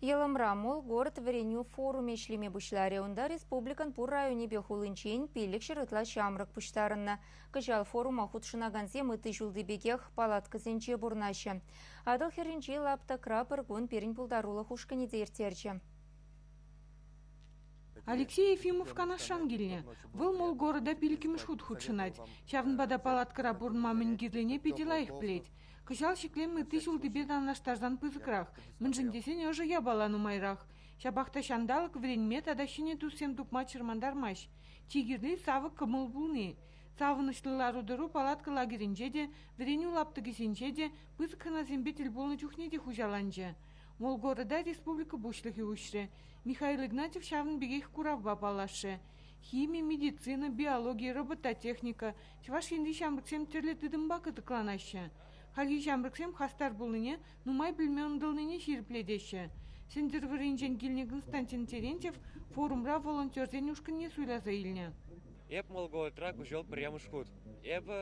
Йӑлӑмра мул город вӗренӳ форумӗ ӗҫлеме пуҫларӗ. Унта республикӑн пур районӗпе хулинчен пиллӗкҫӗр ытла ҫамрӑк пуҫтарӑннӑ. Кӑҫал форума хутшӑнакансем ытти ҫулти пекех палаткӑсенче пурӑнаҫҫӗ. Атӑл хӗрринчи лаптӑкра пӗр кун пирӗн пултарулӑх ушкӑнӗ те ирттерчӗ. Алексей Ефимов Канашран килнӗ. Вӑл мул города пилӗкмӗш хут хутшӑнать. Ҫавӑнпа та палаткӑра пурӑнма мӗн кирлине питӗ лайӑх пӗлет. Кӑҫал ҫӗклем ытти ҫултипе танлаштарсан пысӑкрах, мӗншӗн тесен ӑшӑ япала нумайрах. Ҫапах та ҫанталӑк вӗренме тата ҫӗнӗ туссем тупма чӑрмантармасть. Чи кирли савӑк кӑмӑл пулни. Савӑнӑҫлӑ лару-тӑру палатка лагерӗнче те, вӗренӳ лаптӑкӗсенче те, пысӑк хӑнасемпе тӗл пулнӑ чухне те хуҫаланчӗ. Мол города республика пуҫлӑхӗ уҫрӗ. Михаил Игнатьев ҫавӑн пекех куравпа паллашрӗ. Хими, медицина, биологи, робототехника, Чӑваш Енри ҫамрӑксем тӗрлӗ тытӑмпа кӑтӑкланаҫҫӗ. Хальхи ҫамрӑксем хастар пулнине, нумай пӗлме ӑнтӑлнине ҫирӗплетеҫҫӗ. Сӗнтӗрвӑрринчен килнӗ Константин Терентьев форумра волонтерсен ушкӑнне суйласа илнӗ. Эп Молголтра куҫӑл пӗрремӗш хут. Эпӗ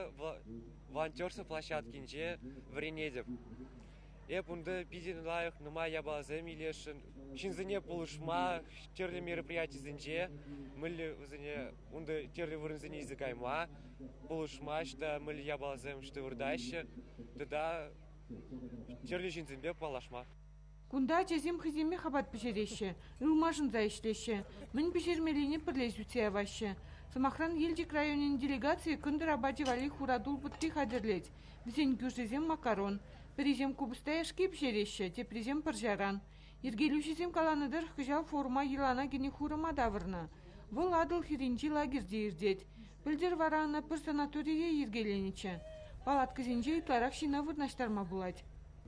волонтерство площадкинче вӗренетӗп. Эп унта питӗ лайӑх нумай япаласем илесшӗн. Ҫынсене пулӑшма тӗрлӗ мероприятисенче мӗнле вӗсене Унта тӗрлӗ вырӑнсене илсе кайма пулӑшмасть та мӗнле япаласем выртаҫҫӗ тата тӗрлӗ ҫынсемпе паллашма. Кунта ачасем хӑйсемех апат пӗҫереҫҫӗ, ылмашӑнса ӗҫлеҫҫӗ, мӗн пӗҫермеллине пӗрле сӳтсе яваҫҫӗ. Сӑмахран, Елчӗк районӗн делегацийӗ кӑнтӑр апачӗ валли хуратул пӑтти хатӗрлет. Вӗсен кӳршисем макарон, пӗрисем купӑста яшки пӗҫереҫҫӗ, теприсем пӑрҫаран. Йӗркелӳҫӗсем каланӑ тӑрӑх, кӑҫал форума йӑлана кӗнӗ хурӑма тавӑрнӑ. Вӑл Атӑл хӗрринчи лагерьте иртет. Пӗлтӗр вара ӑна пӗр санаторие йӗркеленӗччӗ. Палаткӑсенче ытларах ҫына вырнаҫтарма пулать.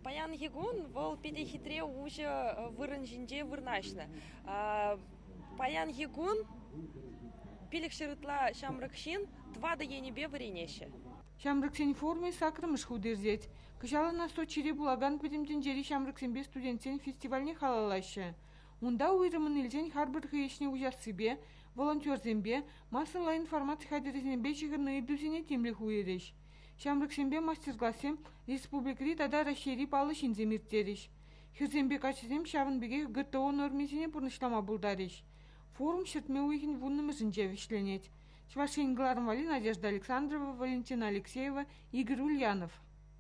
Паянхи кун вӑл питӗ хитре уҫӑ вырӑн ҫинче вырнаҫнӑ. Паянхи кун пилӗк ҫӗр ытла ҫамрӑк ҫын тӑватӑ енӗпе вӗренеҫҫӗ. Ҫамрӑксен форумӗ саккӑрмӗш хут иртет. Кӑҫал ӑна Сочире пулакан Пӗтӗм тӗнчери ҫамрӑксемпе студентсен фестивальне халаллаҫҫӗ. Унта уйрӑммӑн илсен харпӑр хӑй ӗҫне уҫассипе, волонтерсемпе, массӑлла информаци хатӗрӗсемпе ҫыхӑннӑ ыйтусене тимлӗх уйӑрӗҫ. Ҫамрӑксемпе мастер-классем республикӑри тата Раҫҫейри паллӑ ҫынсем ирттерӗҫ. Хӗрсемпе каччӑсем ҫавӑн пекех ГТО нормисене пурнӑҫлама пултарӗҫ. Форум ҫӗртме уйӑхӗн вуннӑмӗшӗнче вӗҫленет. Чӑваш Ен кӑларӑмвари Надежда Александрова, Валентина Алексеева, Игорь Ульянов.